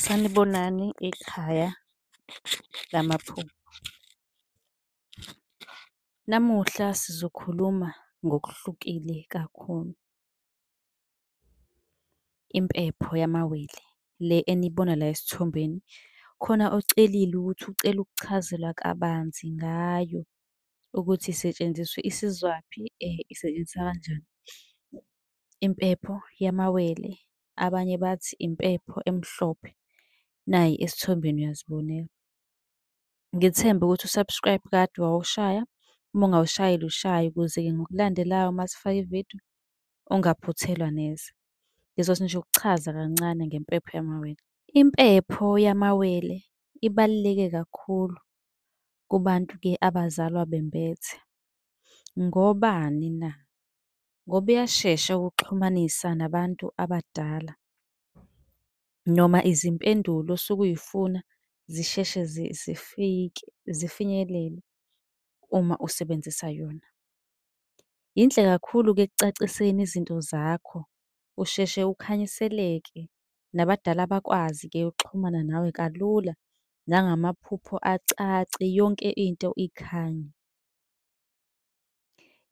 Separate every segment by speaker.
Speaker 1: Sanibonani ikhaya lamaphupho. Namuhla sizokhuluma ngokuhlukile kakhulu. Impepho yamawele le eniyibona la esithombeni, khona ocelile ukuthi ucela ukuchazelwa kabanzi ngayo ukuthi isetshenziswa, isizwaphi, isetshenziswa kanjani. Impepho yamawele abanye bathi impepho emhlophe, nayi esithombeni uyazibonela. Ngithembe ukuthi u-subscribe kade wawushaya, uma ungawushayile ushaye ukuze-ke ngokulandelayo uma sifaka ividiyo ungaphuthelwa neze. Ngizothi nje ukuchaza kancane ngempepho yamawele. Impepho yamawele ibaluleke kakhulu kubantu-ke abazalwa bembethe. Ngobani na? ngoba iyashesha ukuxhumanisa nabantu abadala noma izimpendulo osuke uyifuna zisheshe zifike, zifinyelele uma usebenzisa yona. Yinhle kakhulu-ke ekucaciseni izinto zakho, usheshe ukhanyiseleke nabadala bakwazi-ke ukuxhumana nawe kalula nangamaphupho acace yonke into ikhanye.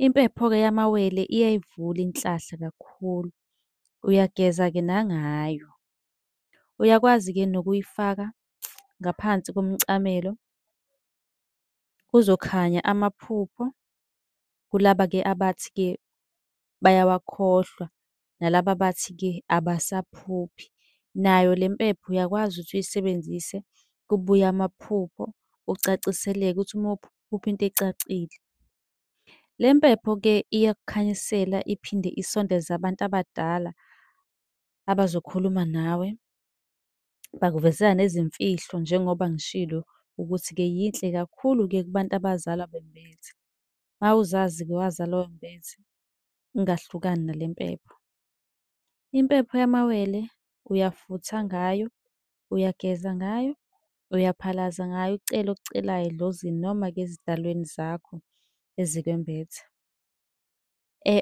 Speaker 1: Impepho-ke yamawele iyayivula inhlahla kakhulu. Uyageza-ke nangayo. Uyakwazi-ke nokuyifaka ngaphansi komcamelo, kuzokhanya amaphupho kulaba-ke abathi-ke bayawakhohlwa nalaba abathi-ke abasaphuphi. Nayo le mpepho uyakwazi ukuthi uyisebenzise kubuye amaphupho, ucaciseleke ukuthi uma uphupha into ecacile. Le mpepho-ke iyakukhanyisela iphinde isondeze abantu abadala abazokhuluma nawe, bakuvezela nezimfihlo njengoba ngishilo ukuthi-ke yinhle kakhulu-ke kubantu abazalwa bembethe. Mawuzazi-ke wazala oyombezi, ungahlukani nale mpepho. Impepho yamawele uyafutha ngayo, uyageza ngayo, uyaphalaza ngayo ucele okucelayo edlozini noma-ke ezidalweni zakho ezikwembethe.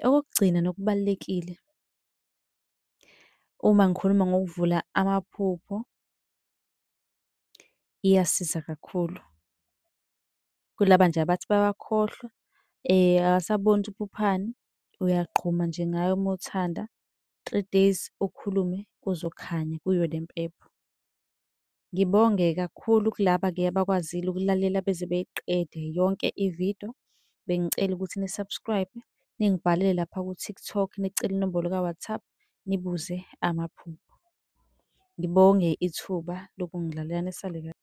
Speaker 1: Okokugcina nokubalulekile uma ngikhuluma ngokuvula amaphupho, iyasiza kakhulu. Kulaba nje abathi bayakhohlwa akasaboni ukuthi uphuphani, uyagquma nje ngaye uma uthanda. Three days ukhulume kuzokhanya kuyo le mpepho. Ngibonge kakhulu kulaba-ke abakwazile ukulalela beze beyiqede yonke i-video. Bengicela ukuthi ni-subscribe-e, ningibhalele lapha ku-TikTok, nicele inombolo ka-WhatsApp, nibuze amaphupho. Ngibonge ithuba lokungilalela, nisale kahle.